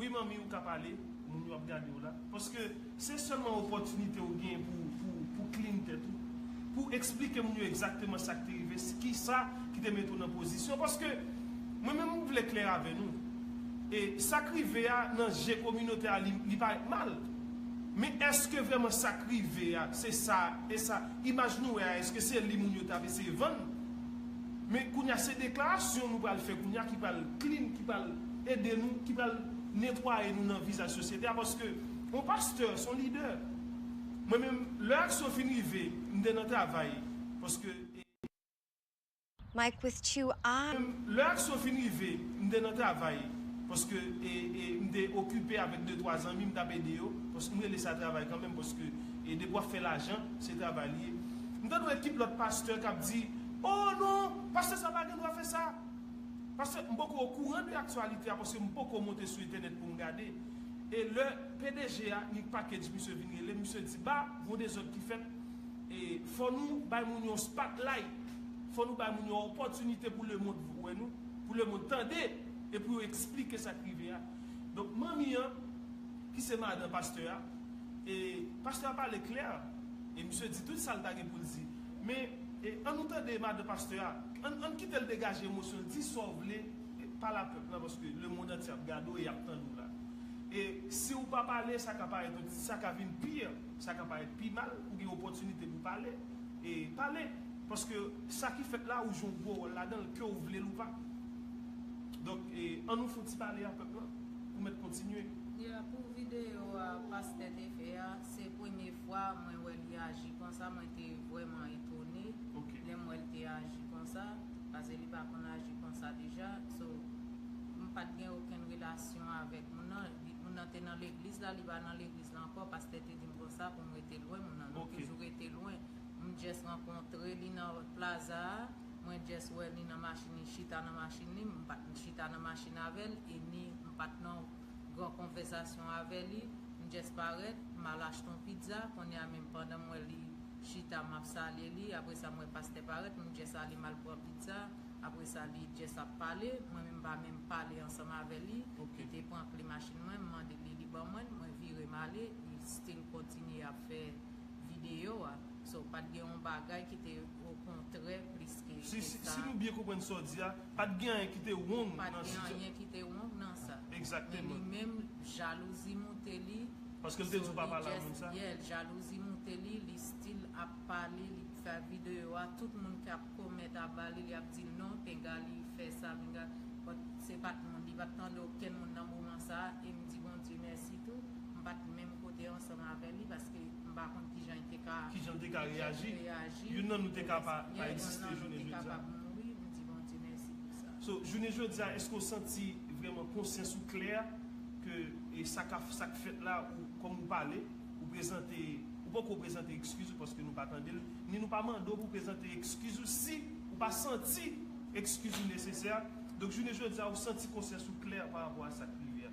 Wi manmi ou ka pale, moun yo ap gade w la. Paske se sèlman opòtinite ou genyen pou w clean tèt ou. Pou w eksplike moun yo egzakteman sa k te rive, kisa ki te mete w nan pozisyon. Paske mwen menm m vle klè avè nou. E sa k rive a nan je kominote a li parèt mal. Men èske vrèman sa k rive a se sa, e sa, imaj nou wè a èske se li moun yo t ap eseye vann. Men kounye a se deklarasyon nou pral fè kounye a ki pral clean, ki pral. ede nou, ki pral netwaye nou nan vizaj sosyete a paske yon pastè se yon lidè. Mwen menm lè aksyon fin rive m te nan travay paske. Mike with two eyes. Mwen menm lè aksyon fin rive m te nan travay paske m te okipe avèk de twa zanmi m t ap ede yo paske m rele sa travay kanmenm paske depi w ap fè lajan se travay li ye. M tande yon ekip lòt pastè k ap di, o non pastè sa pa gen dwa fè sa. Paske m poko okouran de aktyalite a paske m poko monte sou entènèt pou m gade. E lè pdg a ni package misye vin rele m misye di ba gon dezòd ki fèt e fò nou bay moun yon spotlight, fò nou bay moun yon opòtinite pou lemond wè nou, pou lemond tande e pou yo eksplike sa k rive a. Donk manmi an ki se madan pastè a e pastè a pale klè e misye di tout sa l ta gen pou l di. Men, an nou tande madan pastè a, an n kite l degaje emosyon l, di sa w vle, pale a pèp la paske lemond antye ap gade w e y ap tande w la. E si w pa pale, sa ka parèt, sa ka vin pi, sa ka parèt pi mal, ou gen opòtinite pou w pale, e pale, paske sa ki fèt la ou jwe yon gwo wòl ladan l, ke w vle l ou pa. Donk, an nou fouti pale a pèp la, pou mèt kontinye. Ya pou videyo a pastè te fè a se premye fwa mwen wè li aji konsa mwen te vrèman etone lèm wèl te aji konsa pase li pa konn aji konsa deja so m pat gen okenn relasyon avèk moun nan moun nan te nan legliz la li pa nan legliz la ankò pastè te dim konsa poum rete lwen moun nan nou toujou rete lwen m just rankontre li nan plaza a mwen just wè li nan machin li chita nan machin li m pat chita nan machin avèl e ni m pat nan Gran konvèsasyon avè li, m just parèt, m al achte yon pizza, kounye a menm pandan m wè li chita m ap salye li, apre sa m wè pastè parèt, m just ale m al pran pizza, apre sa li just ap pale, mwen menm m pa menm pale ansanm avè li, li te pran kle machin mwen, m mande li, li ban mwen l, mwen vire m ale, li still kontinye ap fè videyo a, so pat gen yon bagay ki te. O kontrè plis ke sa. Si nou byen konprann sa w di a, pa t gen anyen ki te wong nan sitiyasyon. Pa t gen anyen ki te wong nan sa. Egzakteman. Men li menm, jalouzi moute li. Paske l te di w pa pale ak moun sa. Yeah, jalouzi moute li, li still ap pale, li fè videyo a, tout moun ki ap comment aba li, li ap di non, pinga li fè sa, pinga. But se pa t moun, li pa t tande okenn moun nan moman sa a, e m di Bondye mèsi tou, m pa t menm kote ansanm avè li, paske. paske m pa konn kijan li te ka kijan li te ka reyaji reyaji youn nan nou te ka pa pa egziste jounen jodi a youn nan nou te ka pa mouri m di Bondye mèsi pou sa so jounen jodi a èske ou santi vrèman konsyans ou klè ke e sa ka sa k fèt la ou kòm ou pale ou prezante ou poko prezante ekskiz ou paske nou pa tande l ni nou pa mande w pou prezante ekskiz ou si ou pa santi ekskiz ou nesesè donk jounen jodi a ou santi konsyans ou klè pa rapò a sa k rive a.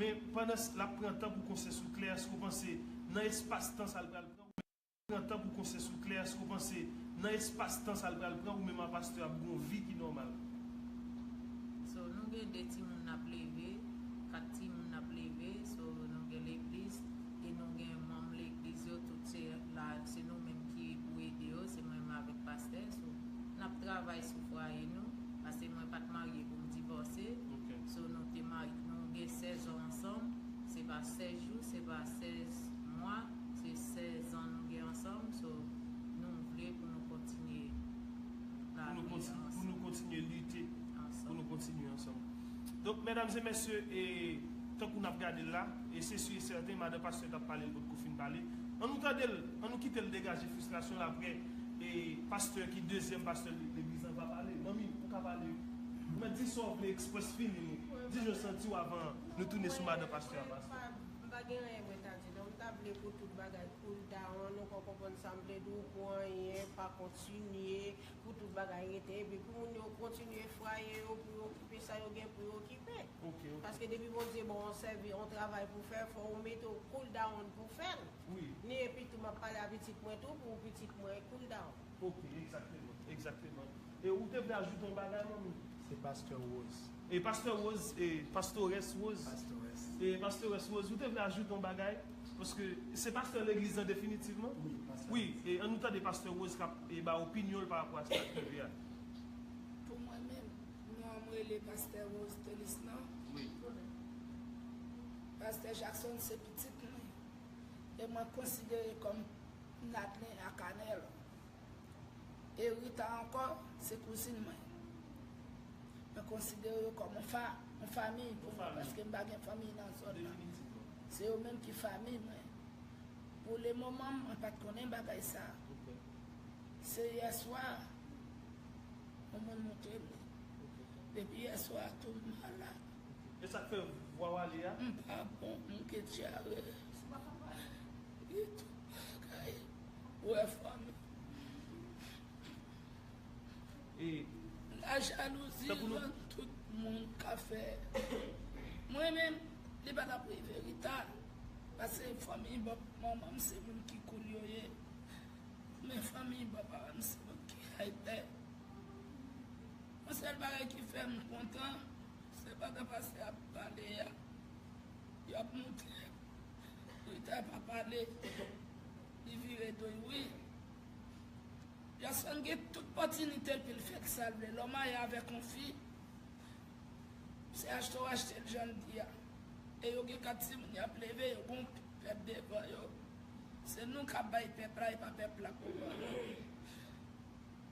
Men, pandan l ap pran tan pou konsè sou kle, èske w panse nan espas tan sa l pral pran ou menm pran tan pou konsè sou kle, èske w panse nan espas tan sa l pral pran ou menm a pastè ap gen yon vi ki nòmal? So, nou gen 2 timoun n ap leve, 4 timoun n ap leve, so, nou gen legliz, e nou gen manm legliz yo, tout se la, se nou menm ki pou ede yo, se mwen menm avèk pastè, so, n ap travay sou fwaye nou, pase mwen pa t marye pou m divòse. Ok. So nou te marye nou gen 16 ans ansanm se pa 16 jou se pa 16 mwa se 16 ans nou gen ansanm so nou vle pou nou kontinye la vi ansanm pou nou kontinye lite pou nou kontinye ansanm donk medam e mesye e tankou nap gadel la e se su e sèten madan pastè tap palel potko fin pale an nou tandel an nou kitel degaje frustrasyonl aprè e pastè ki dezyèm pastè legliz lan va pale manmi ou ka pale. Mwen di sa w vle express fini di jan w santi w avan nou tounen sou madan pastè a pastè. M pa gen anyen mwen ta di non m ta vle pou tout bagay koul down ou ka konprann sa m vle di w pou anyen pa kontinye pou tout bagay rete epi pou moun yo kontinye fwaye yo pou yo okipe sa yo gen pou yo okipe paske depi Bondye ba w yon sèvi yon travay pou fè fò ou mete w koul down pou fè l ni epi tou m ap pale a pitit mwen tou pou pitit mwen koul down. Ok egzakteman egzakteman e ou te vle ajoute yon bagay manmi. Se pasteur rose. E pasteur rose e pastores rose. Pastores. E pastores rose ou te vle ajoute yon bagay paske se pasteur legliz lan definitivman. Wi pasteur. Wi e an nou tande pasteur rose kap e ba opinyonl pa rapò a sa kap rive a. Pou mwen menm nonm rele pasteur rose telis nan. Wi. Pasteur jackson se pitit mwen e mwen konsidere kòm. Nadlin ak Anel. E Rita ankò, se kouzin mwen. Mwen konsidere yo kòm yon famiy pou mwen paske m pa gen fanmiy nan zòn nan. Se yo menm ki famiy mwen. Pou le moman mwen pa t konnen bagay sa. Se yè swa yon moun montre m li. Depi yè swa tou m malad. E sak fè vwaw ale a. M pa bon m gen dyare. Se pa nòmal. Li tout bagay. Ou wè fanmi. E. La jalouzi rann tout moun ka fè. Mwen menm li pa tap rive Rita. Pase fanmi bòp manman m se moun ki cool yo ye. Men fanmi bò paran m se moun ki hype. Yon sèl bagay ki fè m kontan, se pandan pastè a ap pale a, yo ap montre Rita pa pale, li vire do l wi. Jason gen tout pòtinite l pou l fè ki sa l vle. Lè w marye avèk yon fi, se achte w achte l jan l di a. E yo gen kat timoun y ap leve, yo gen yon pèp devan yo. Se nou k ap bay pèp la, e pa pèp la pou yo.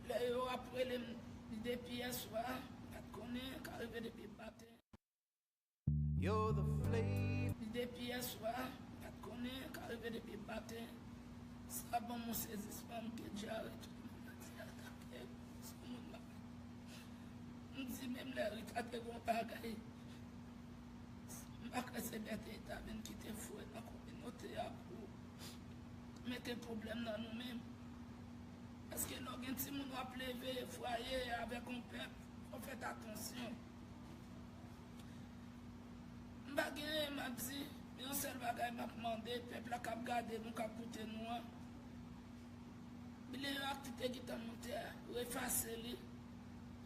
Lè yo ap relem depi yèswa pat konnen ka rive depi maten. Depi yèswa pat konnen ka rive depi maten sa banm yon sezismanm ke dyare tout moun nan di atake sou moun nan menm m di menm lè rita te gen yon bagay m pa kwè se bète rita menm ki te voye nan kominote a pou mete pwoblèm nan nou menm. Paske lè w gen timoun w ap leve fwaye avèk yon pèp, fò w fèt atansyon. M pa gen anyen m ap di, men yon sèl bagay m ap mande pèp la k ap gade nou, k ap koute nou an, bile yo ak tout egitan nou te a, yo efase li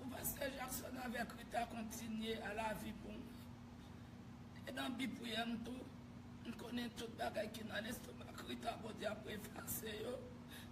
pou pastè Jackson avèk Rita kontinye a lavi pou mwen. E nan bi priyè m tou, m konnen tout bagay ki nan lestomak Rita Bondye ap efase yo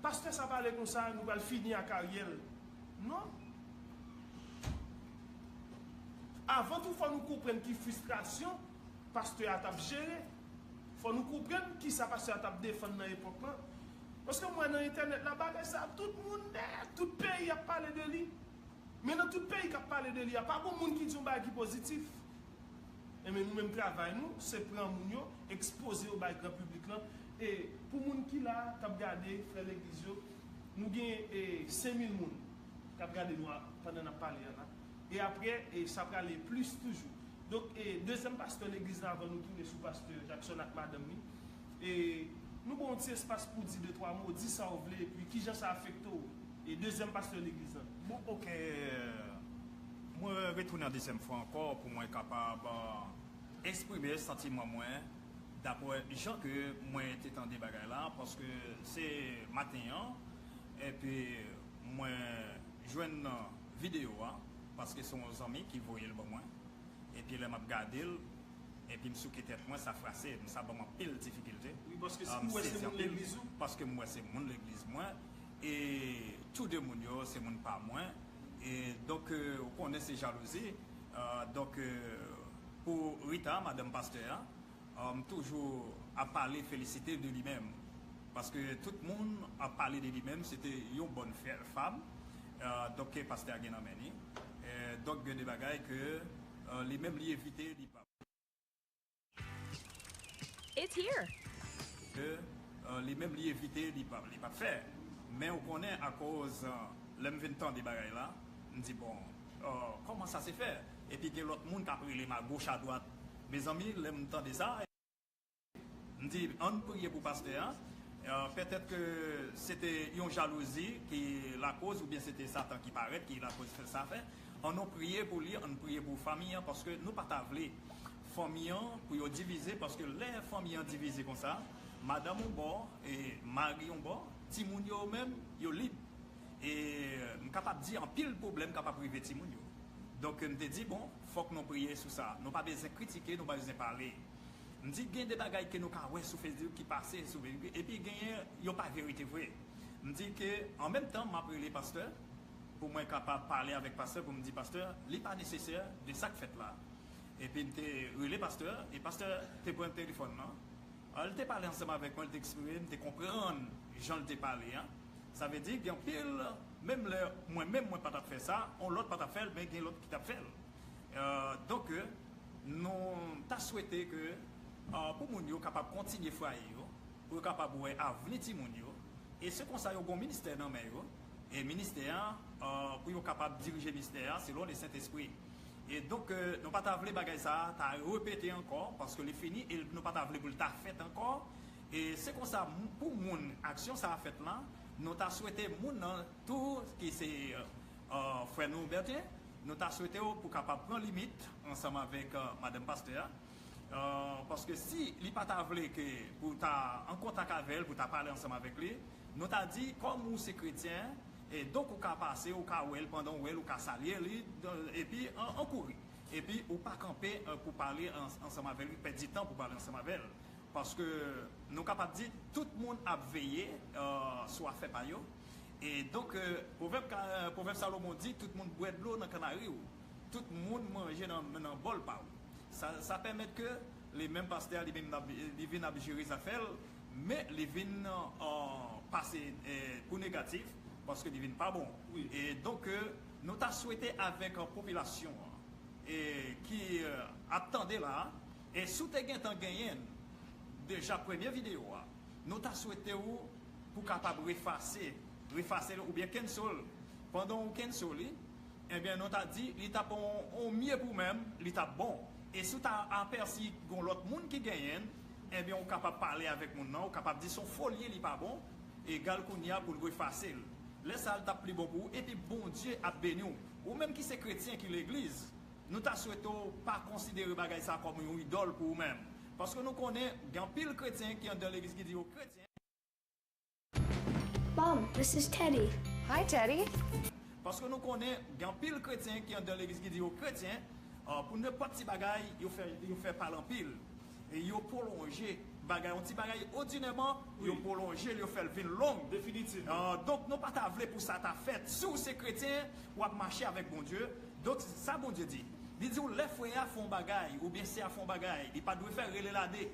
Pastè sa pale konsa nou pral fini ak Ariel non Avan tou fò nou konprann ki fristrasyon pastè a tap jere fò nou konprann kisa pastè a tap defann nan epòk lan paske m wè nan entènèt la bagay sa tout moun nè tout peyi ap pale de li. Men nan tout peyi kap pale de li a pa gon moun ki di yon bagay ki pozitif. Enben nou menm travay nou se pran moun yo, ekspoze yo bay gran piblik lan e pou moun ki la kap gade frè legliz yo nou gen e 5000 moun kap gade nou a pandan nap pale a la e aprè e sa prale plis toujou. Donk e dezyèm pastè legliz la avan nou tounen sou pastè Jackson ak madanm li. E nou ba w yon ti espas pou w di de twa mo, di sa w vle, epi ki jan sa afekte w. E dezyèm pastè legliz la. Bon ok, mwen retounen yon dezyèm fwa ankò pou mwen kapab esprime santiman mwen dapre jan ke mwen te tande bagay la, paske se maten an epi mwen jwenn videyo a, paske se yon zanmi ki voye l ban mwen, epi lè m ap gade l, Epi m souke tèt mwen, sa frase m, sa ban m anpil difikilte. M sezi anpil, paske m wè se moun legliz mwen, e tou de moun yo se moun pa mwen. E donk, ou konnen se jalouzi. Donk, pou Rita, madanm pastè a, m toujou ap pale, felisite de li menm. Paske tout moun ap pale de li menm, se te yon bòn fam, donk ke pastè a gen nan men li. Donk, gen de bagay ke. Li menm li evite li pa. It's here! Li menm li evite li pa li pa fè. Men ou konnen akoz lè m vin tande bagay la m di bon kòman sa se fè epi gen lòt moun k ap rele m agoch adwat mezanmi lè m tande sa. M di ann priye pou pastè a, pètèt ke se te yon jalouzi ki lakoz oubyen se te satan ki parèt ki lakoz fè sa fè, an nou priye pou li, ann priye pou fanmi an paske nou pa ta vle fanmi an pou yo divize paske lè fanmi an divize konsa madanm yon bò e mari yon bò, timoun yo menm yo lib e m kapab di anpil pwoblèm kapab rive timoun yo donk m te di bon fòk nou priye sou sa, nou pa bezwen kritike nou pa bezwen pale. M di gen de bagay ke nou ka wè sou Facebook ki pase sou verite epi genyen yo pa verite vre. M di ke an menm tan map rele pastè pou mwen kapab pale avèk pastè pou m di pastè li pa nesesè de sak fèt la. Epi m te rele pastè e pastè te pran telefòn nan an li te pale ansanm avèk mwen li te eksprime m te konprann jan li te pale an. Sa vle di gen anpil menm lè mwen menm mwen pa tap fè sa on lòt pa tap fèl men gen lòt ki tap fèl. Donk ke nou ta swete ke pou moun yo kapab kontinye fwaye yo, pou yo kapab wè avni timoun yo, e se konsa yo gen yon ministè nan men yo, e ministè an pou yo kapab dirije mistè an selon le Sentespri. E donk ke nou pa ta vle bagay sa a ta repete ankò, paske li fini e nou pa ta vle pou l ta fèt ankò, e se konsa pou moun aksyon sa a fèt lan, nou ta swete moun nan tou ki se Frè nou Bertin, nou ta swete w pou kapab pran limit ansanm avèk madanm pastè a, paske si li pa ta vle ke pou w ta an kontak avè l, pou w ta pale ansanm avèk li, nou ta di kòm ou se kretyen, donk ou ka pase, ou ka wè l, pandan w wè l ou ka salye li, epi an kouri, epi ou pa kanpe pou pale ansanm avè l, pèdi tan pou pale ansanm avè l, paske nou kapab di tout moun ap veye sou afè pa yo, Donk, pwovèb pwovèb Salomon di, tout moun bwè dlo nan kannari ou, tout moun manje nan bòl pa ou. Sa sa pèmèt ke li menm pastè a li menm nap li vin ap jere zafè l, men li vin pase pou negatif paske li vin pa bon. Donk nou ta swete avèk popilasyon an ki ap tande la a, si w te gentan genyen deja premye videyo a, nou ta swete ou pou kapab refase, refase l oubyen cancel l. Pandan ou cancel li, enben nou ta di li tap on on mye pou menm, li tap bon. E si w ta apèsi gon lòt moun ki genyen l, enben ou kapab pale avèk moun nan, ou kapab di son fo l ye li pa bon, egal kounye a pou l refase l. Lè sa l tap pli bon pou ou epi Bondye ap beni w. Ou menm ki se kretyen ki legliz, nou ta swete w pa konsidere bagay sa kòm yon idòl pou ou menm. Paske nou konnen gen anpil kretyen ki anndan legliz ki di yo kretyen. Mom, this is Teddy. Hi Teddy. Paske nou konnen gen anpil kretyen ki anndan legliz ki di yo kretyen, pou nenpòt ti bagay yo fè pale anpil e yo pwolonje bagay, yon ti bagay odinèman yo pwolonje l yo fè l vin long, donk nou pa ta vle pou sa ta fèt, si w se kretyen w ap mache avèk Bondye, donk sa Bondye di, li di w lè frè a fè yon bagay oubyen sè a fè yon bagay li pa dwe fè rele l ade.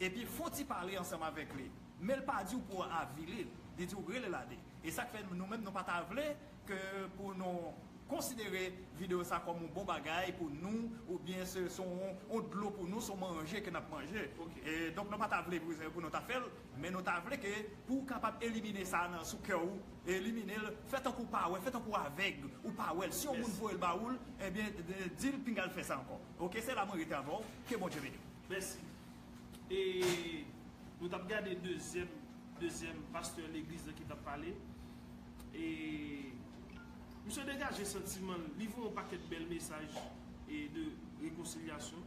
epi fon ti pale ansanm avèk li men l pa di w pou w avili l li di w rele l ade e sa k fè nou menm nou pa ta vle ke pou nou konsidere videyo sa kòm yon bon bagay pou nou oubyen se s on yon dlo pou nou s on manje ke n ap manje e donk nou pa ta vle pou nou ta fè l men nou ta vle ke pou w kapab elimine sa nan sou kè w elimine l fè tankou w pa wè fè tankou w avèg ou pa wè l si yon moun voye l ba ou l ebyen di l pinga l fè sa ankò ok se la mwen rete avè w ke Bondye beni w. Mèsi. E nou tap gade dezyèm dezyèm pastè legliz lan ki tap pale. E misye degaje santiman l. Li voye yon pakèt bèl mesaj e de rekonsilyasyon.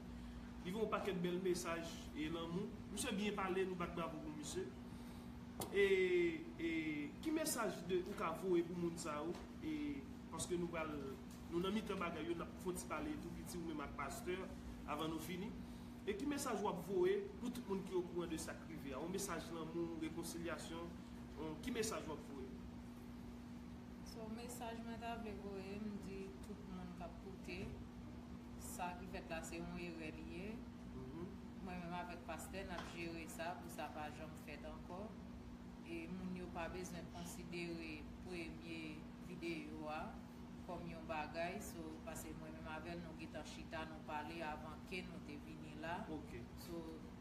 Li voye yon pakèt bèl mesaj e lanmou. Misye byen pale, nou bat bravo pou misye. E e ki mesaj de ou ka voye pou moun sa yo e paske nou pral Nou nan mitan bagay yo nap fon ti pale tou piti ou menm ak pastè avan nou fini. E ki mesaj wap voye pou tout moun ki okouran de sak rive a? On mesaj lanmou, rekonsilyasyon, on ki mesaj wap voye? So mesaj mwen ta vle voye m di tout moun kap koute sa ki fèt la se on erè li ye. Mwen menm avèk pastè nap jere sa pou sa pa janm fèt ankò. E moun yo pa bezwen konsidere premye videyo a. kòm yon bagay so pase mwen menm avèl nou gentan chita nou pale avan ke nou te vini la so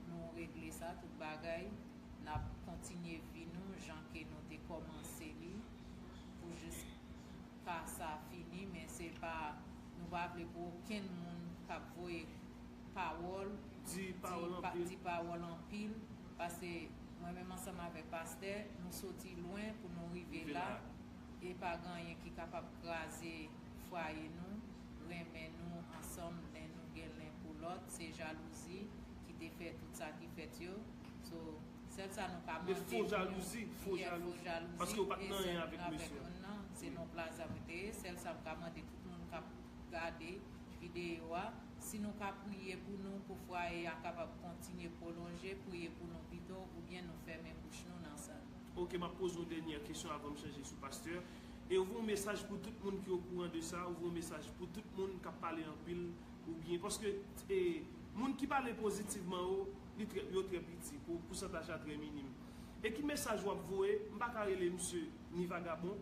nou regle sa tout bagay nap kontinye vi nou jan ke nou te kòmanse li pou jis ka sa fini men se pa nou pa vle pou okenn moun kap voye pawòl di pawòl anpil pase mwen menm ansanm avèk pastè nou soti lwen pou nou rive la. E pa gen anyen ki kapab kraze fwaye nou, renmen nou ansanm len nou gen len pou lòt, se jalouzi ki te fè tout sa ki fèt yo, so sèl sa nou ka mande pou nou yè fo jalouzi e zanmi avèk moun nan, se non plaza mwen te ye, sèl sa m ka mande tout moun kap gade videyo a, si nou ka priye pou nou pou fwaye a kapab kontinye pwolonje, priye pou nou pito oubyen nou fèmen bouch nou nan sa. Ok map poze yon denyè kesyon avanm chanje sou pastè, e ou vle yon mesaj pou tout moun ki okouran de sa, ou vle yon mesaj pou tout moun kap pale anpil ou byen, paske e moun ki pale pozitivman yo li trè yo trè piti pou pousantaj la trè minim, e ki mesaj wap voye, m paka rele misye ni vagabon,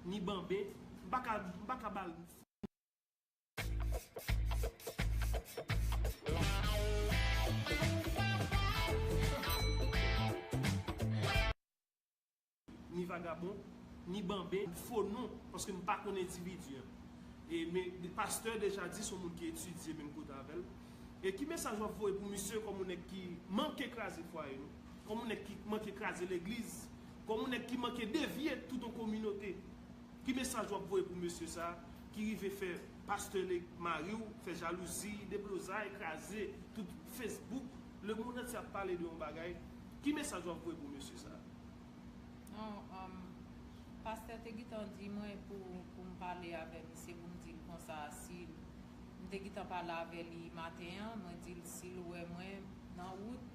ni banben, m paka m paka bal. Ni vagabon, ni banben, fo non, paske m pa konn endividi an. E men, pastè deja di son moun ki etidye menm kote avè l. E ki mesaj w ap voye pou misye kòm yon nèg ki manke kraze fwaye nou, kòm yon nèg ki manke kraze legliz, kòm yon nèg ki manke devye tout yon kominote. Ki mesaj wap voye pou mesye sa ki rive fè pastè nèg mariw fè jalouzi deblozay kraze tout Facebook le monde antye ap pale de yon bagay ki mesaj wap voye pou mesye sa. Non um pastè te gitan di mwen pou poum pale avè misye poum dil konsa sil m te gitan pale avè li maten an mwen dil sil wè mwen nan wout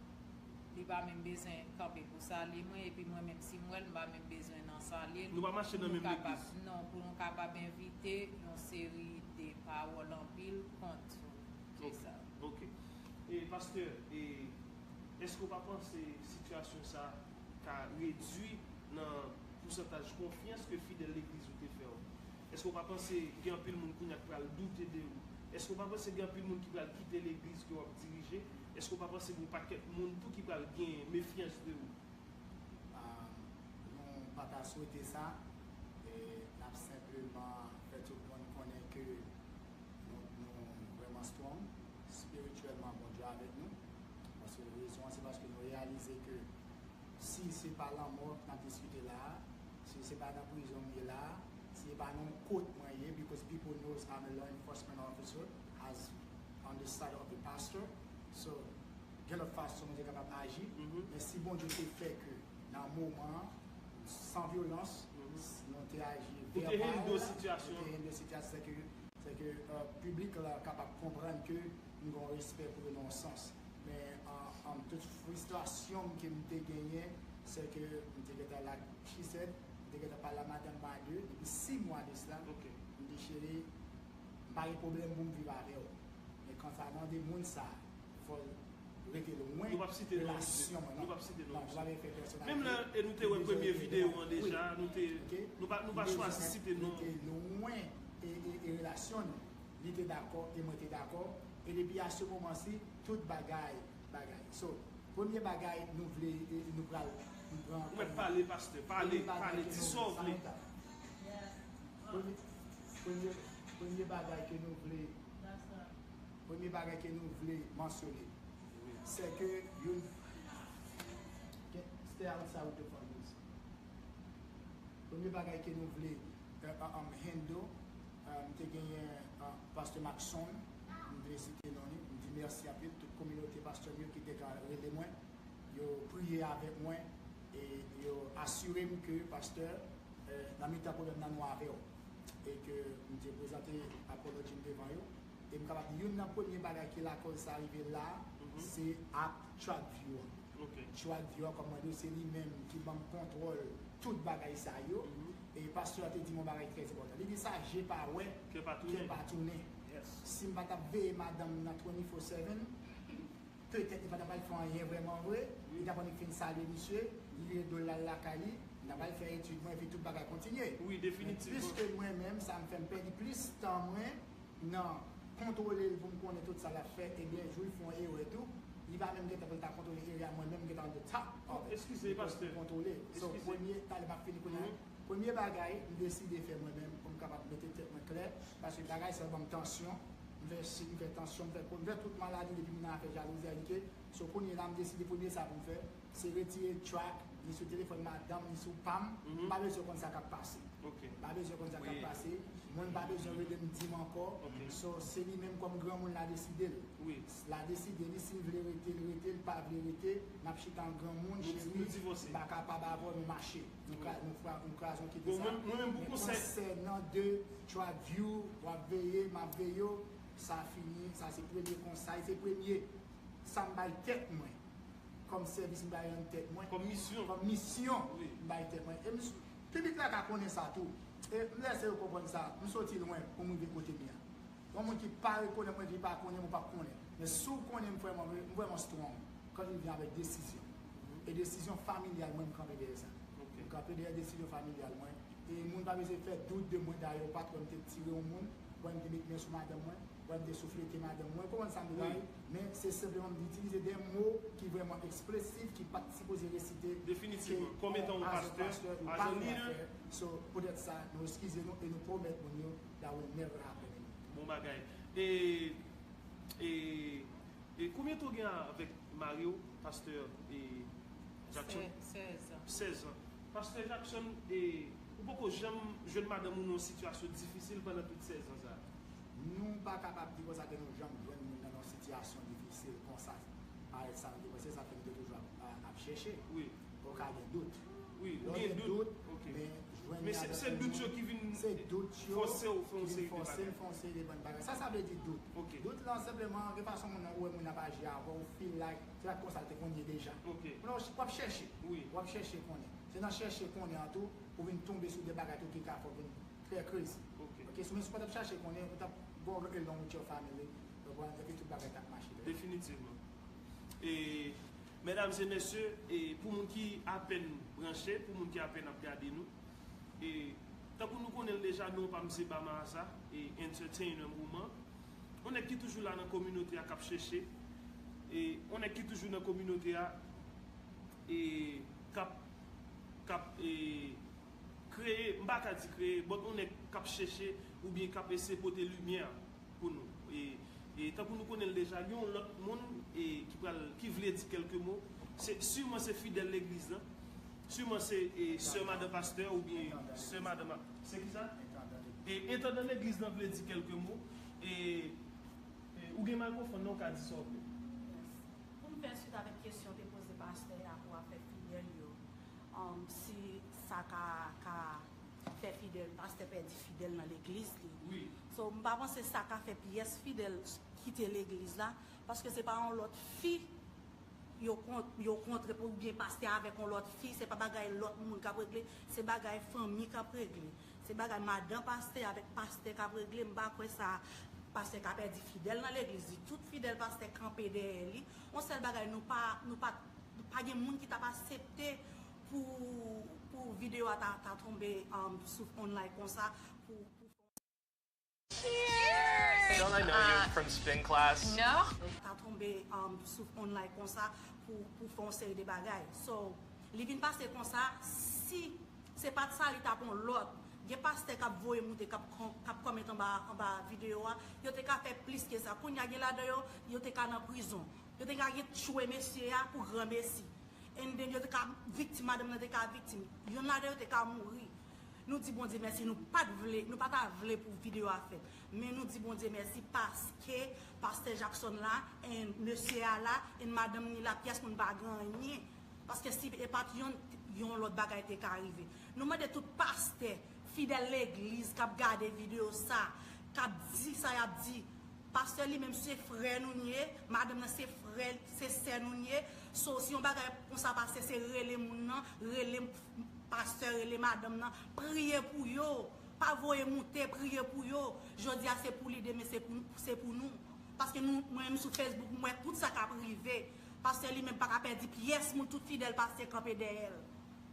Li pa menm bezwen kanpe pou salye mwen epi mwen menm si m wè l m pa menm bezwen nan salye l. Nou pa mache nan menm legliz. Non, pou nou kapab evite yon seri de pawòl anpil kont yo. Se sa. Ok. E pastè, e èske ou pa panse sitiyasyon sa ka redui nan pousantaj konfyans ke fidèl legliz ou te fè w? Èske ou pa panse gen anpil moun kounye a ki pral doute de ou? Èske ou pa panse gen anpil moun ki pral kite legliz ke w ap dirije Eske ou pa panse gon pakèt moun tou ki pral gen mefyans de ou? Aah nou pa ta swete sa, n ap senpleman fè tout moun konnen ke nou vrèman strong spirityèlman Bondye avèk nou, paske rezon an se paske nou reyalize ke si se pa lanmò n ap diskite la a, si se pa nan prizon m ye la a, si se pa nan yon kot mwen ye, because people knows I'm a law enforcement officer. as on the side of the pastor so gen lòt fason nou te kapab aji men si Bondye te fè ke nan moman an san vyolans nou te aji vèbal nou te hendle sitiyasyon sa ke se ke piblik la kapab konprann ke nou gen yon respè pou yo nan yon sans men an tout fristrasyon m ke m te genyen se ke m te gentan la she said m te gentan pale a madanm m a 2 depi 6 mwa de sla m dechire. M pa gen pwoblèm pou m viv avè w. Men kanta nan de moun sa a, fò l rete lwen relasyon mwen nan. Non, nou pa vle fè pèsonalite. Menm lè e nou te wè premye videyo an deja, nou te, nou pa, nou pa chwazi site non. Li te lwen e relasyon nou. Li te dakò e mwen te dakò. E depi a se moman si, tout bagay, bagay. So, premye bagay nou vle, nou pral m pran kòm. Mwen pale pastè, pale, pale, di sa w vle. Premye bagay ke nou, sa nou ta. Premye, premye bagay ke nou vle, premye bagay ke nou vle mansyone, se ke youn, ke, stay outside with the phone please. Premye bagay ke nou vle um handle, m te genyen Pasteur Maxon, m vle site non li, m di mèsi anpil tout kominote Pasteur m yo ki te ka rele mwen, Yo priye avèk mwen e yo asire m ke pastè, nan mitan pwoblèm nan nou avè w. E ke m te prezante Apollo Jim devan yo. E m kapab di youn nan premye bagay ki lakòz sa rive la, se ak Track View an. Track View an, kòm mwen di w, se li menm ki ban m kontwòl tout bagay sa yo. E pastè a te di m yon bagay trè enpòtan. Li di sa je pa wè, kè pa tounen. Si m pa t ap veye madanm nan 24 seven, Petèt li pa t ap al fè anyen vrèman vre, li t ap annik fin salye misye, li vire do l la al lakay li, m t ap al fè etid mwen epi tout bagay kontinye. Men piske mwen menm sa m fè m pèdi plis tan mwen nan kontwole l pou m konnen tout sa l ap fè ebyen jou l fè yon erè tou li pa menm gen tan pou l ta kontwole erè a mwen menm m gen tan on the top of it because m kontwole so premye talè m ap fini kounye a. Premye bagay m deside fè mwen menm pou m kapab mete tèt mwen klè, paske bagay sa yo ban m tansyon, m fè sik, m fè tansyon, m fè kol, m fè tout maladi depi m nan afè jalouzi a ike, so kounye la m deside premye sa pou m fè se retire track ni sou telefòn madanm ni sou pa m, m pa bezwen konn sa k ap pase, m pa bezwen konn sa k ap pase, moun pa bezwen rele m di m ankò, so se li menm kòm granmoun la deside l, la deside li si l vle rete l rete, l pa vle rete, n ap chita an granmoun, cheri m pa kapab avè w nou mache. Nou ka nou fra nou kraze ok de sa. Mwen menm pou konsèy. Men konsèy nan de trap view wap veye map veyew sa fini sa se premye kons sa se premye sam bay tèt mwen kòm sèvis m bay an tèt mwen. Kòm misyon. Kòm misyon m bay tèt mwen. Em piblik la ka konnen sa tou. E m lèse yo konprann sa m soti lwen pou m rive kote m ye a. Yon moun ki pa rekonnen mwen li pa konnen m ou pap konnen. Men si w konnen m frè m m vrèman strong kan li vyen avèk desizyon. E desizyon familyal mwen, m kanpe dèyè sa. M kanpe dèyè desizyon familyal mwen. E moun pa bezwen fè dout de mwen. Dayè yon patwòn m te tire yon moun, wè m te met men sou madanm mwen, wè m te souflete madanm mwen. Ou konprann sa m vle bay? Men se senpleman m itilize de mo ki vrèman eksplesif, ki pa t sipoze resite. Definitivman. Kòm etan yon pastè, ajan lidè. So, poutèt sa, nou eskize nou e nou pwomèt moun yo that will never happen again. Bon bagay. E. E konbyen tan w gen avèk mari w pastè e Jackson? 16 ans. 16 ans. Pastè Jackson e ou poko janm jwenn madanm ou nan yon sitiyasyon difisil pandan tout 16 ans sa? Nou pa kapab di konsa ke nou janm jwenn moun nan nan yon sitiyasyon difisil konsa. Parèt sa nou te panse sa fè nou te toujou ap chèche. Ou ka gen dout. Wi, ou gen dout. Ok. Men, jwenn ni avèk. Men, se dout yo ki vin. Se dout yo. Fòse ou fè yon seri de bagay. Ki vin fòse ou fè yon seri de bann bagay. Sa sa vle di dout? Ok. Dout lan, senpleman, gen fason moun nan wè moun nan ap aji avè ou, ou feel like, se pa t konsa l te konn ye deja. Ok. Moun nan, w ap chèche. Wi. W ap chèche konnen. Se nan chèche konnen an tou, ou vin tonbe sou de bagay tou ki ka fè w vin trè krezi. Ok. Ok, men si w pa t ap chèche konnen, ou t ap go along with your family, ou konprann, epi tout bagay t ap mache trè byen. Definitivman. E, Mesdames et messieurs, e pou moun ki apèn branche, pou moun ki apèn ap gade nou, e tankou nou konnen l deja non pa m se Bama Aza, e Entertainer moman, on nèg ki toujou la nan kominote a k ap chèche, e on nèg ki toujou nan kominote a, e k ap, k ap e kreye, m pa ka di kreye, but on nèg k ap chèche oubyen k ap eseye pote limyè pou nou. E tankou nou konnen l deja, gen yon lòt moun ki pral, ki vle di kèlke mo. Se, siman se fidèl legliz lan. Siman se sè madan pastè oubyen sè madan ma. Se ki sa? Entandan legliz. E entandan legliz lan vle di kèlke mo. E, ou gen mikrofòn nan, ou ka di sa w vle. Mèsi. Pou m fè swit avèk kesyon w te poze pastè a pou afè fidèl yo, si sa ka, ka fè fidèl pastè pèdi fidèl nan legliz li wi so mpa panse sa ka fè pyès fidèl kite legliz la paske se pa yon lòt fi yo kontre pou byen pastè avèk yon lòt fi se pa bagay lòt moun kap regle se bagay fanmi kap regle se bagay madan pastè avèk pastè kap regle mpa kwè sa pastè ka pèdi fidèl nan legliz li tout fidèl pastè kanpe dèyè li yon sèl bagay nou pa nou pa gen moun ki tap asepte Pou video a ta tonbe sou online konsa pou. Ta tonbe sou online konsa pou fè yon seri de bagay. So li vin pase konsa si se pat sa li tap yon lòt. Gen pastè kap voye moute kap comment anba video a yo te ka fè plis ke sa. Kounya gen ladan yo yo te ka nan prizon. Yo te ka gen tchwe mesye a pou granmesi. And then yo te ka viktim, madanm nan te ka viktim. Yonn ladan yo te ka mouri. Nou di Bondye mèsi nou pat vle, nou pa ta vle pou video a fèt. Men nou di Bondye mèsi paske Pastè Jackson la and mesye a la and madanm ni la pyès moun pa gen anyen. Paske si e pat yonn, yon lòt bagay te ka rive. Nou mande tout pastè, fidèl legliz kap gade video sa, kap di sa yap di, Pastè li menm se frè nou n ye, madanm nan se frè se sè nou n ye, so si yon bagay konsa pase se rele moun nan, rele pastè, rele madanm nan, priye pou yo, pa voye moute, priye pou yo, jodi a se pou li demen se pou nou, paske nou mwen menm sou Facebook m wè tout sa kap rive, pastè li menm paka pèdi pyès moun tout fidèl pastè kanpe dèyè l,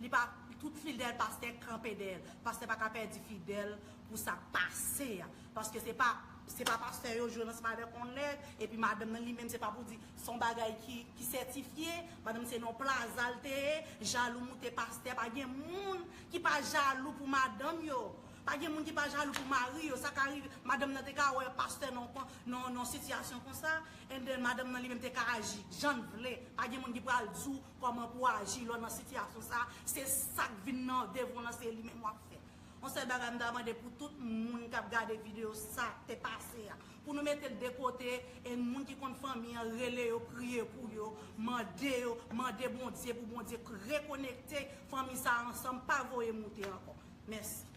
li pa tout fidèl pastè kanpe dèyè l, pastè paka pèdi fidèl pou sak pase a, paske se pa. Se pa pastè yo jwe nan spadè on nèg, epi madanm nan li menm se pa pou di son bagay ki sètifye, madanm se nan plaza l te ye, jalou moute pastè, pa gen moun ki pa jalou pou madanm yo, pa gen moun ki pa jalou pou mari yo, sa ka rive, madanm nan te ka wè pastè nan sitiyasyon konsa, and then madanm nan li menm te ka aji jan l vle, pa gen moun ki pral di w kòman pou w aji lè w nan sitiyasyon sa, se sa k vin nan devon nan se li menm w ap fè. On sèl bagay m ta mande pou tout moun kap gade video sa te pase a pou nou metel de kote e moun ki konn fanmi an rele yo priye pou yo mande yo mande Bondye pou Bondye rekonekte fanmi sa ansanm pa voye moute ankò mèsi.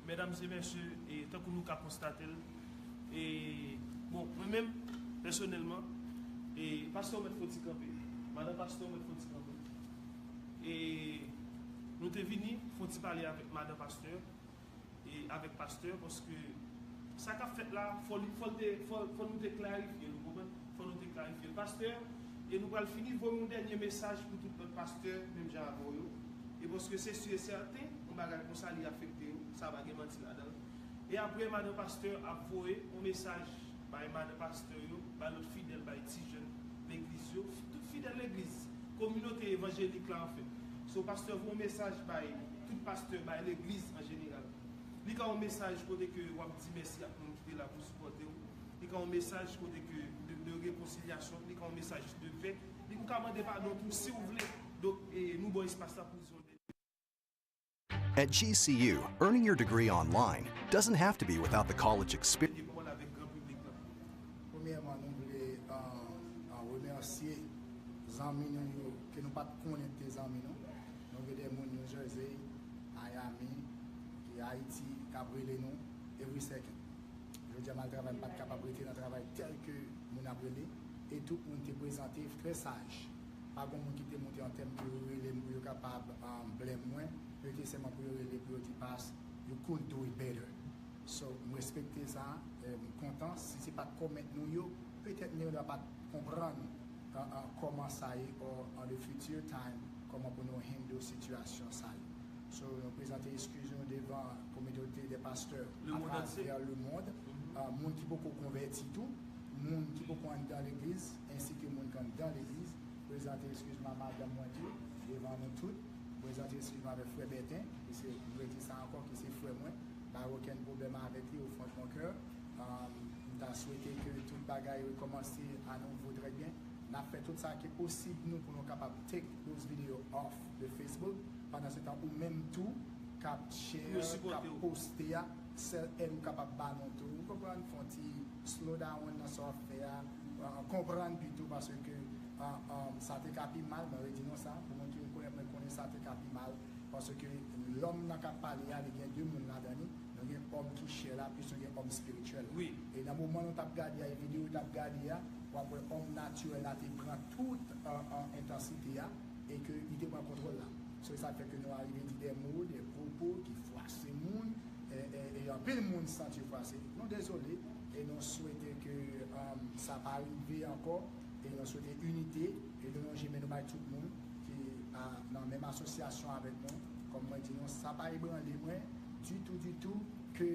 Medam e mesye, tankou nou ka konstate l, e bon mwen menm pèsonèlman, e pastè ou mèt fon ti kanpe, madan pastè ou mèt fon ti kanpe, e nou te vini fon ti pale avèk madan pastè, e avèk pastè, paske sa k ap fèt la fò li, fò l te, fò nou te klarifye l ou konprann, fò nou te klarifye l pastè, e nou pral fini, voye yon dènye mesaj pou tout lòt pastè menm jan avè w yo. e paske se su e sèten yon bagay konsa li afekte yo sa pa gen manti ladanl e aprè madan pastè ap voye yon mesaj bay madan pastè yo bay lòt fidèl bay ti jèn legliz yo tout fidèl legliz kominote evanjelik la anfen so pastè voye yon mesaj bay tout pastè bay legliz an jeneral li ka yon mesaj kote ke wap di mèsi ak moun ki te la pou sipòtew li ka yon mesaj kote ke de rekonsilyasyon li ka yon mesaj de pè ou ka mande padon tou siw vle. Donk nou ban espas la pou zon dènye ane. At GCU, earning your degree online doesn't have to be without the college experience. Dènye pawòl avèk gran piblik la. Premyèman nou vle remèsye zanmi nou yo ke nou pat konnen te zanmi nou. Nou gen de moun New Jersey, Miami, e Ayiti k ap rele nou every second. Jodi a m al travay m pat kapab rete nan travay tèlke moun ap rele e tout moun te prezante trè saj. Pa gon moun ki te moute an tèt pou yo rele m pou yo kapab blèm mwen. Yo te sèlman pou yo rele pou yo di Past, you could do it better. So, m respekte sa, m kontan. Si se pa t kòmèt nou yo, petèt Mirda pa t konprann kòman sa ye or on the future time kòman pou nou handle sitiyasyon sa yo. So, nou prezante eskiz nou devan kominote dè pastè atravè lemond, moun ki poko konvèti tou, moun ki poko anndan legliz. ensi ke moun kan dan legliz, prezante eskiz m a madanm mwen tou, devan nou tout, prezante eskiz m avèk frè Bèten, piske m dwe di sa ankò, ki se frè mwen, m pa gen okenn pwoblèm avèk li au fond de mon cœur, m ta swete ke tout bagay rekòmanse a nouvo trè byen, n ap fè tout sa ki posib nou pou nou kapab take those videos off de Facebook, pandan se tan ou menm tou k ap share, k ap poste a, sèl èd ou kapab ba nou tou, ou konprann, fè yon ti slow down nan sa w ap fè a, konprann pito paske sa te ka pi mal mwen redi non sa pou moun ki rekonèt mwen konnen sa te ka pi mal paske lòm nan kap pale a li gen 2 moun ladan li nou gen òm ki chè la plis nou gen òm espirityèl la e nan moman nou tap gade a e videyo nou tap gade a wap wè òm natirèl la te pran tout entansite a e ke li te pran kontwòl la so e sak fè ke nou arive di dè mo dè pwopo ki fwase moun e anpil moun santi yo fwase nou dezole. e nou swete ke sa pa rive ankò e nou swete inite e nou lonje men nou bay tout moun ki nan menm asosyasyon avèk nou kòm mwen di nou sa pa ebranle mwen ditou ditou ke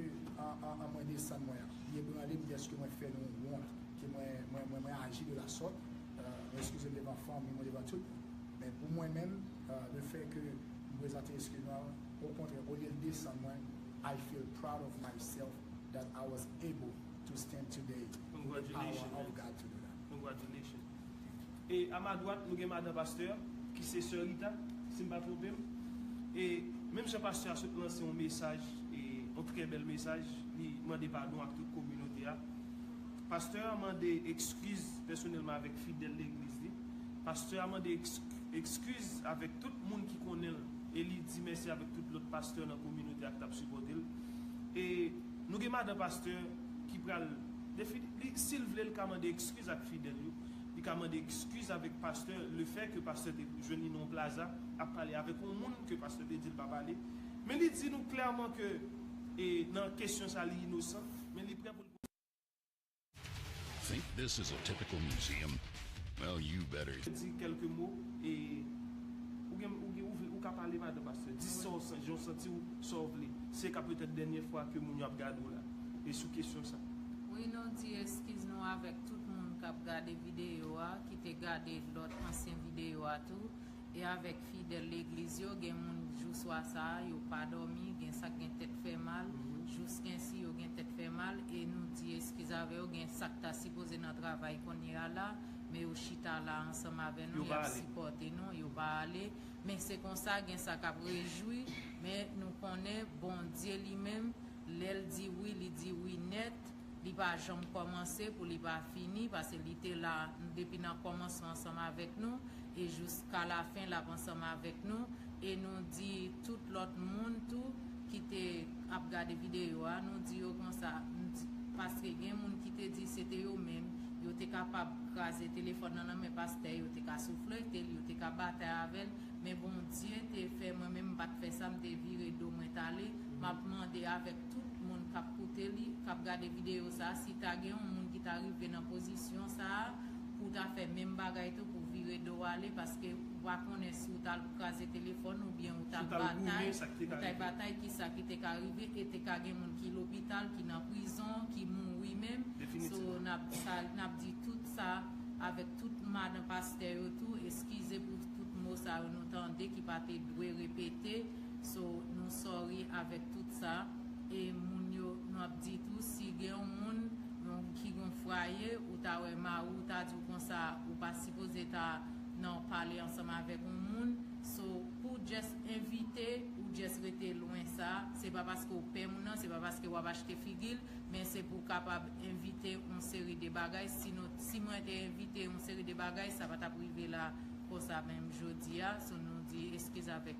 mwen desann mwen li ebranle m dèske mwen fè nou wont ke mwen aji de la sòt nou eskize m devan fanmi mwen devan tout moun men pou mwen menm le fè ke m prezante eskiz mwen okontrè olye l desann mwen I feel proud of myself that I was able to stand today the power of God to do that. Congratulations man. E a ma dwat nou gen madan pastè a ki se sè Rita si m pa twonpe m. E menm jan pastè a sot lanse yon mesaj e yon trè bèl mesaj li mande padon ak tout kominote a. Pastè a mande ekskiz pèsonèlman avèk fidèl legliz li. Pastè a mande ekskiz avèk tout moun ki konnen l e li di mèsi avèk tout lòt pastè nan kominote a ki t ap sipòte l. E nou gen madan pastè ki pral defini li sil vle li ka mande ekskiz ak fidèl yo li ka mande ekskiz avèk pastè le fè ke pastè te jwenn li nan yon plaza ap pale avèk yon moun ke pastè te dil pa pale men li di nou klèman ke e nan kesyon sa li inosan men li prè poul Think this is a typical museum? Well you better. Di kèlke mo e ou gen ou gen ou vle ou ka pale madan pastè di sa w san jan w santi w sa w vle se ka petèt dènyè fwa ke moun yo ap gade w la e sou kesyon sa. Wi nou di eskiz nou avèk tout moun kap gade videyo a ki te gade lòt ansyen videyo a tou. E avèk fidèl legliz yo gen moun jou swa sa a yo pa dòmi, gen sak gen tèt fè mal, jouskensi yo gen tèt fè mal e nou di eskiz avè yo gen sak ta sipoze nan travay konnye a la men yo chita la ansanm avè nou yap sipòte nou yo pa ale men se konsa gen sa kap rejwi men nou konnen Bondye li menm lèl di wi li di wi nèt. Li pa janm kòmanse pou li pa fini pase li te la depi nan kòmansman ansanm avèk nou e jouska lafen lap ansanm avèk nou e nou di tout lòt moun tou ki te ap gade videyo a nou di yo konsa paske gen moun ki te di se te yo menm yo te kapab kraze telefòn nan nan men pastè yo te ka souflete l yo te ka batay avè l men Bondye te fè mwen menm m pat fè sa m te vire do mwen tale map mande avèk tout moun kap koute li, kap gade videyo sa, si ta gen yon moun ki ta rive nan pozisyon sa, pou w ta fè menm bagay tou pou vire do w ale paske ou pa konnen si w ta al kraze telefòn ou oubyen ou ta batay, ou ta batay kisa ki te ka rive e te ka gen moun ki lopital, ki nan prizon, ki mouri menm, so nap di tout sa avèk tout madan pastè yo tou, eskize pou tout mo sa yo nou tande ki pa te dwe repete. So nou sorry avèk tout sa e moun yo nou ap di tou si gen yon moun ki gon fraye ou ta wè mari w ta di w konsa ou pa sipoze ta nan pale ansanm avèk yon moun so pou w just evite ou just rete lwen sa se pa paske w pè moun nan se pa paske wap achte figi l men se pou w kapab evite yon seri de bagay si nou si mwen te evite yon seri de bagay sa pa tap rive la konsa menm jodi a so nou di eskiz avèk.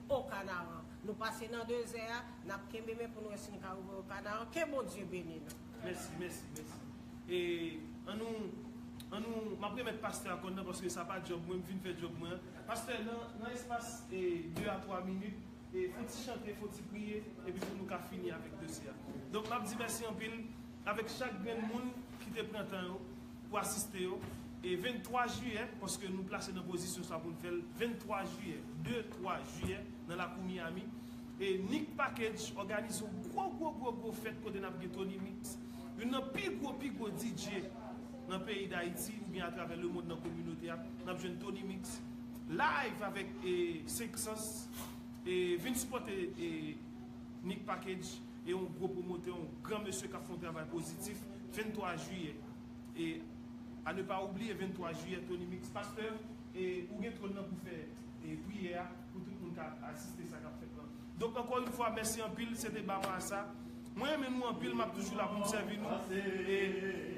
O Kanaran. Nou pase nan dezè a, nap kenbe men pou n wè si n ka rive O Kanaran. Ke Bondye beni nou! Mèsi, mèsi, mèsi. E, an nou, an nou, m ap remèt pastè a kòn nan paske sa pa djòb mwen, m fin fè djòb mwen an. Pastè, nan, nan espas e de a twa minit, e fon ti chante, fon ti priye, epi pou nou ka fini avèk dosye a. Donk, m ap di mèsi anpil avèk chak grenn moun ki te pran tan yo. pou asiste yo e 23 jiyè paske nou plase nan pozisyon sa pou n fè l 23 jiyè 2 3 jiyè nan lakou Miami e Nick Package òganize yon gwo gwo gwo gwo fèt kote n ap gen Tony Mix youn nan pi gwo pi gwo DJ nan peyi Dayiti oubyen atravè lemond nan kominote a n ap jwenn Tony Mix live avèk 5 sans e vin sipòte Nick Package. e yon gwo pwomotè, yon gran mesye k ap fè yon travay pozitif, 23 jiyè e a ne pa oubliye 23 jiyè Tony Mix pastè e ou gen twòn nan pou fè e priyè a pou tout moun ka asiste sa k ap fèt lan donk ankò yon fwa mèsi anpil se te Bama a sa mwen renmen nou anpil m ap toujou la pou m sèvi nou e.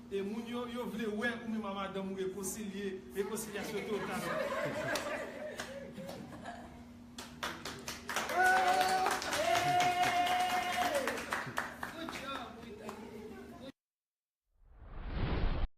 E moun yo yo vle wè ou menm a madanm ou rekonsilye rekonsilyasyon te yon talan.